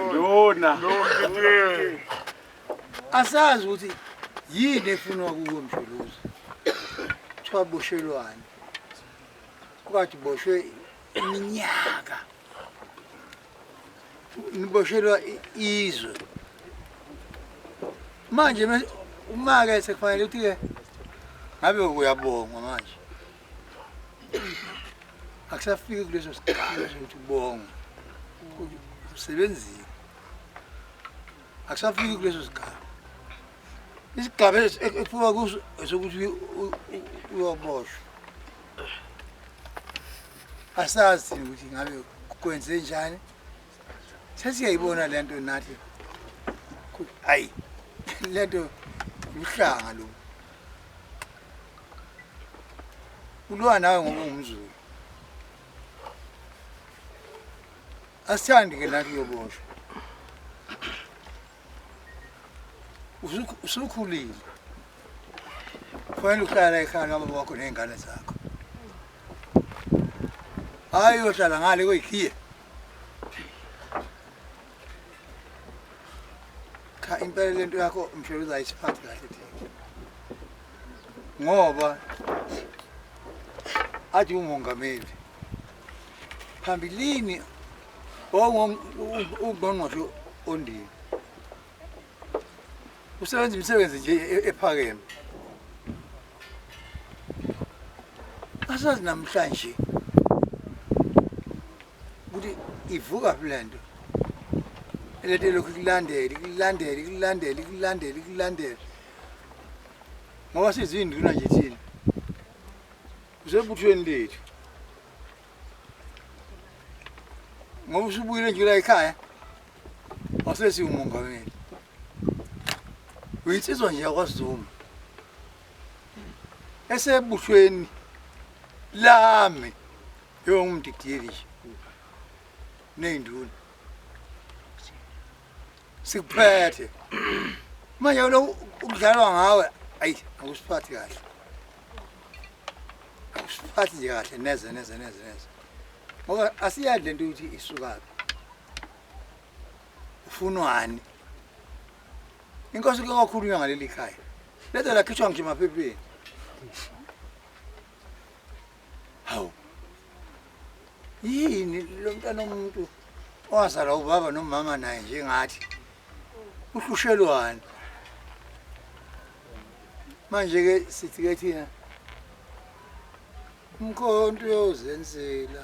Nduna. Asazi ukuthi yini efunwa kuwe mshuluzi. Kuthiwa boshelwane. Kwathi boshwe iminyaka. Niboshelwa i- izwe. Manje uma ke sekufanele ukuthi ke ngabe uyabongwa manje. akusafiki kuleso sikhala sokuthi ubonga usebenzile akusafiki kuleso sigaba isigaba ekufika kuso sokuthi uyoboshwa asazi ukuthi ngabe kwenze njani sesiyayibona le nto nathi ayi le nto uhlanga lo Ulwa nawe ngoba ungumzulu. Asithandi ke nathi uyoboshwa. Usu- Usukhulile. Kufanele uhlala ekhaya noma wakho nezingane zakho. Hayi uyohlala ngale kuyikhiye. cha impela lento yakho mshelo uzayisiphatha kahle thina ngoba athi umongameli phambilini ongqongqoshe ondini usebenza imisebenzi nje e- e- ephakeme asazi namhlanje ukuthi ivuka phi le nto elento elokhu ikulandele ikulandele ikulandele ikulandele ikulandele ngoba siziyinduna nje thina usebuthweni lethu Ngoba usubuyile nje la ekhaya. Wasesi umongameli. Uyinsizwa nje yakwaZuma. Esebushweni lami yongumdidiyeli nje. Neyinduna. sikuphethe manje lo ukudlalwa ngawe ayi akusiphathi kahle akusiphathi nje kahle neze neze neze neze ngoba asiyazi lento ukuthi isukaphi ufunwani inkosi ke kwakhulunywa ngaleli khaya lezo lakhishwa ngisho emaphepheni Hawu. Yini lo mntana omuntu owazalwa ubaba nomama naye njengathi? Uhlushelwani? Manje ke sithi ke thina umkhonto uyozenzela.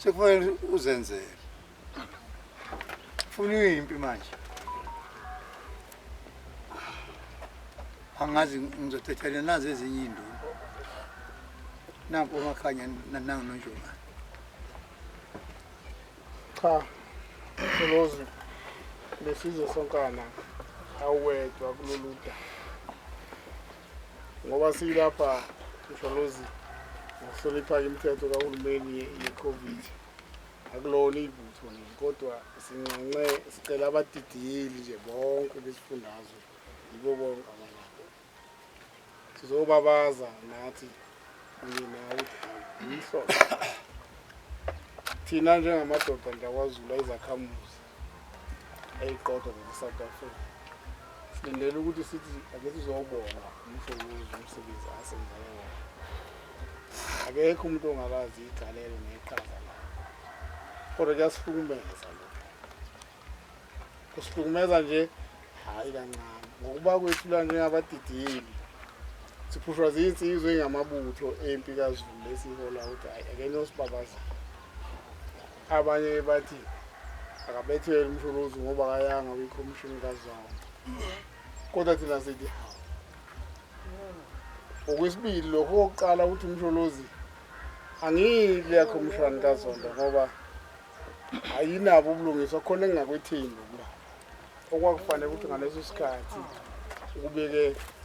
sekufanele uzenzele funa uyimpi manje angazi ngizothethelwa nazi ezinye iy'nduna nanku umakhanya nanangu nonjomane cha solozi lesizwe sonkana awuwedwa kulolu daba ngoba siyilapha msholozi ngokuhlonipha imithetho kahulumeni ye-covid akulona ibutho nini kodwa sinxenxe sicela abadidiyeli nje bonke besifundazwe yibo bonke abalapho sizobabaza nathi kunye nawe yinhloso thina njengamadoda ndakwaZulu ayizakhamuzi eyiqoda nje South Africa silindele ukuthi sithi ake sizobona umsebenzi umsebenzi asenzayo wona akekho umuntu ongakazi igalelo neqhaza lakhe kodwa kuyasihlukumeza lokho kusihlukumeza nje hhayi kancane ngokuba kwethu la njengabadidiyeli siphushwa ziyinsizwa engamabutho empi kazulu lesihola ukuthi hhayi akeniosibabazile Abanye ke bathi akabethele umsholozi ngoba akayanga kwikhomishini kazonke kodwa thina sithi hawu okwesibili lokho kokuqala ukuthi umsholozi angiyi kuleya khomishani kazonto ngoba ayinabo ubulungiswa khona engingakwethembi okwakufanele ukuthi ngaleso sikhathi ukubeke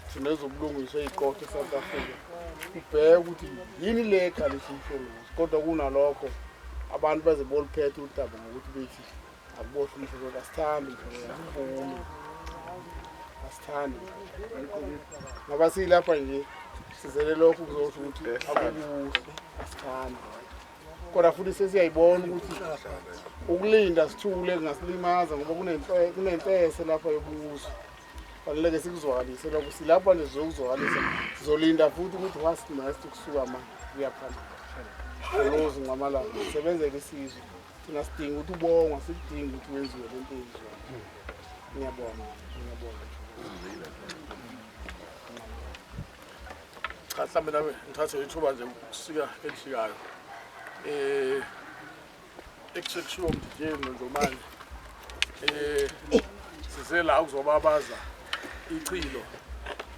thina ezobulungiswa iqotho e-south africa kubheke ukuthi yini le ekhalisa umhlongozi kodwa kunalokho abantu baze boluphethe udaba ngokuthi bethi akubohle umhlongozi asithandi mhlongozi asithandi ngoba siyilapha nje sizele lokho kuzosho ukuthi akukuhle asithandi kodwa futhi sesiyayibona ukuthi ukulinda sithule kungasilimaza ngoba kunempese lapha yobuso faneleke sikuzwakalise lokho silapha nje zokuzwakalisa sizolinda futhi ukuthi what's next kusuka ma kuyaphambili olozi nqamalanga sisebenzele isizwe thina sidinga ukuthi ubongwa sikudinga ukuthi wenziwe le nto yenziwa ngiyabonga ngiyabonga cha mhlawumbe nami ngithathe ithuba nje ukusika elishikayo eh ekusekushiwo mdijeni nonjomane eh size la ukuzobabaza ichilo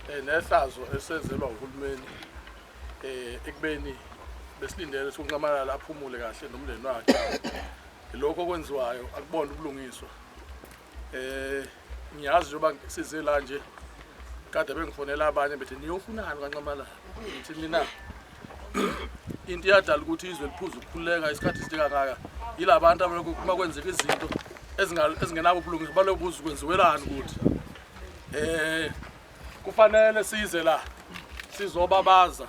eh, nehlazo esenzelwa uhulumeni eh ekubeni besilindele sokunqamalala aphumule kahle nomndeni wakhe lokho okwenziwayo akubona ubulungiswa eh ngiyazi njengoba size la nje kade bengifonela abanye bethi niyofunani kwanxamalala ngithi mina into iyadala ukuthi izwe liphuza ukukhululeka isikhathi sidika ngaka yila bantu uma kwenzeka izinto ezingenabo ubulungiswa baloku buza ukwenziwelani ukuthi um kufanele size la sizobabaza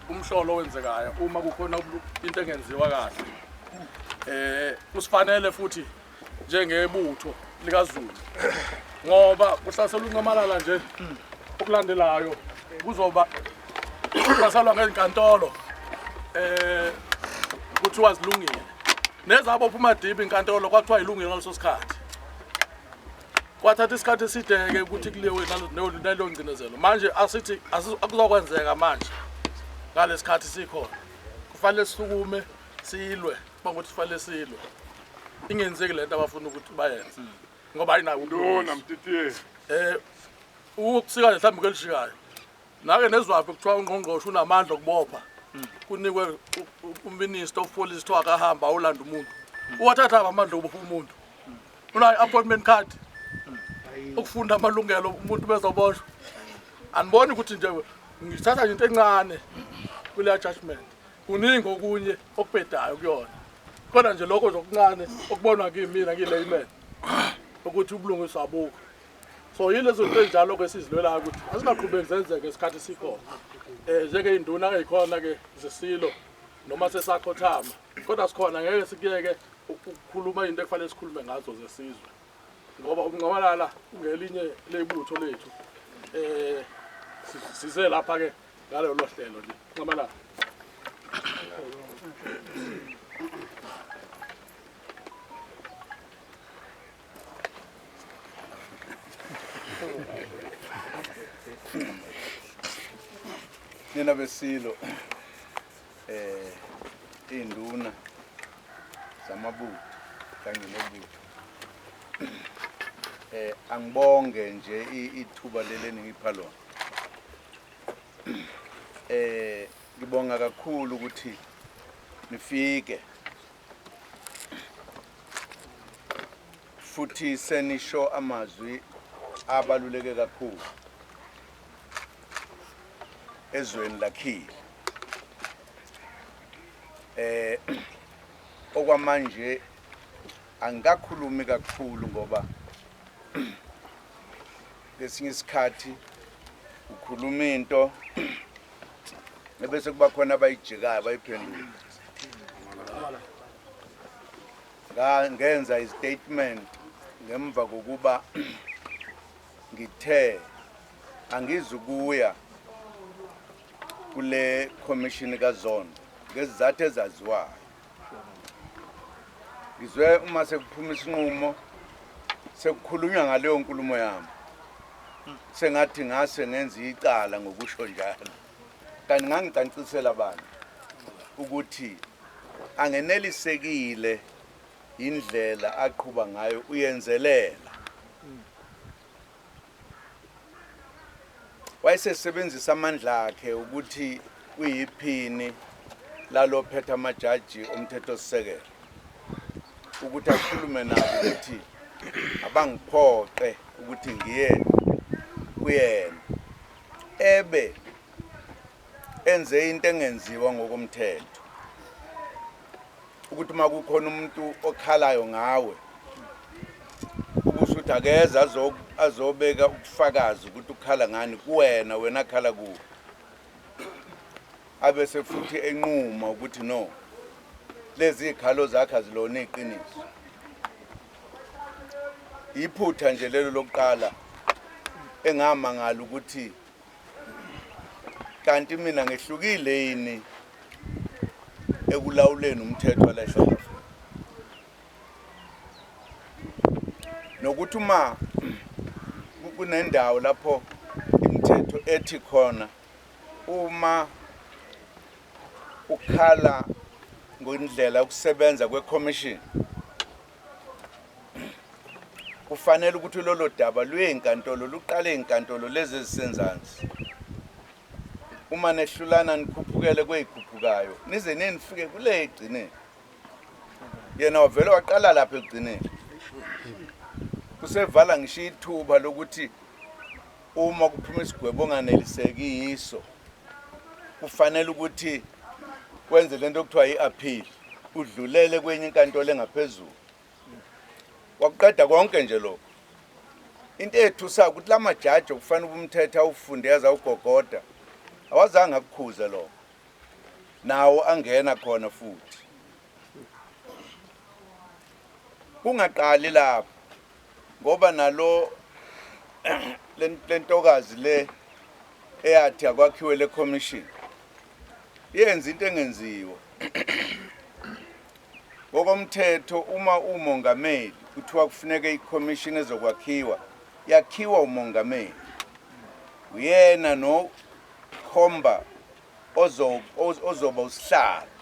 umhlolo owenzekayo uma kukhona into engenziwa kahle um kusifanele futhi njengebutho likaZulu ngoba kuhlasela unqamalala nje okulandelayo kuzoba kuhlaselwa ngezinkantolo eh kuthiwa zilungile nezabo phuma deep inkantolo kwathiwa ilungile ngaleso sikhathi kwathatha isikhathi esideke ukuthi kuliwe naleyo ngcinezelo manje asithi akuzokwenzeka manje ngalesikhathi sikhona kufanele sisukume silwe uma kuthi sifanele silwe ingenzeki le nto abafuna ukuthi bayenze ngoba ayinawo ubulungiswa. Lona mtitiye. Eh ukusika nje mhlawumbe kwelishikayo. Nake nezwaphi kuthiwa ungqongqoshe unamandla okubopha. Kunikwe u- u- uminister of police kuthiwa akahamba awulanda umuntu. Uwathatha aphi amandla okubopha umuntu. Unayo appointment card. Ukufunda amalungelo umuntu bezoboshwa. Aniboni ukuthi nje ngithatha nje into encane kuleya judgment. Kuningi okunye okubhedayo kuyona kodwa nje lokho nje okuncane okubonwa kimina ngiyi-layman ukuthi ubulungiswa abukho so yilezo nto ezinjalo-ke esizilwelayo ukuthi azingaqhubeki zenzeke isikhathi sikhona um njengey'nduna ey'khona-ke zesilo noma sesakhothama kodwa sikhona ngeke sikuyeke ukukhuluma into ekufanele sikhulume ngazo zesizwe ngoba ukunqabalala ungelinye leyibutho lethu um size lapha-ke ngalolo hlelo nje nxamalala nina besilo eh induna zamabutho kanye nebutho eh angibonge nje i- ithuba leli eningipha lona Eh ngibonga kakhulu ukuthi nifike. Futhi senisho amazwi abaluleke kakhulu ezweni lakhile. Eh okwamanje angikakhulumi kakhulu ngoba Ngesinye isikhathi ukhuluma into ebese kuba khona abayijikayo bayiphendula. Ngenza istatement ngemva kokuba ngithe angizukuya kule commission kaZondo ngezizathu ezaziwayo ngizwe uma sekuphuma isinqumo sekukhulunywa ngaleyo nkulumo yami sengathi ngase ngenza icala ngokusho njalo kanti ngangicancisela abantu ukuthi angenelisekile indlela aqhuba ngayo uyenzelela wayesesebenzisa amandla akhe ukuthi uyiphini lalophetha amajaji omthethosisekelo ukuthi akhulume nabo ukuthi abangiphoqe ukuthi ngiye kuyena ebe enze into engenziwa ngokomthetho ukuthi uma kukhona umuntu okhalayo ngawe ukusho ukuthi akeze azobeka ukufakazi ukuthi ukhala ngani kuwena wena akhala kuwe abese futhi enquma ukuthi no lezi khalo zakhe azilona iqiniso iphutha nje lelo lokuqala engamangala ukuthi kanti mina ngehlukile yini ekulawuleni umthetho wala South Africa nokuthi uma kunendawo lapho imithetho ethi khona uma ukhala ngondlela ukusebenza kweCommission kufanele ukuthi lolo daba luye enkantolo luqale enkantolo lezi ezisenzansi uma nehlulana nikhuphukele kweyikhuphukayo nize nenifike kule egcineni yena wavele waqala lapha ekugcineni usevala ngisho ithuba lokuthi Uma kuphuma isigwebo onganeliseki yiso kufanele ukuthi kwenze lento okuthiwa i-appeal udlulele kwenye inkantolo engaphezulu wakuqeda konke nje lokho into ethusayo ukuthi la majaji okufanele ubumthetha awufunde yaze awugogoda awazange akukhuze lokho nawo angena khona futhi kungaqali lapho ngoba nalo lentokazi le eyathi akwakhiwe le commission yenza into engenziwa ngokomthetho uma umongameli kuthiwa kufuneka i-commission ezokwakhiwa yakhiwa umongameli uyena nokhomba ozoba usihlalo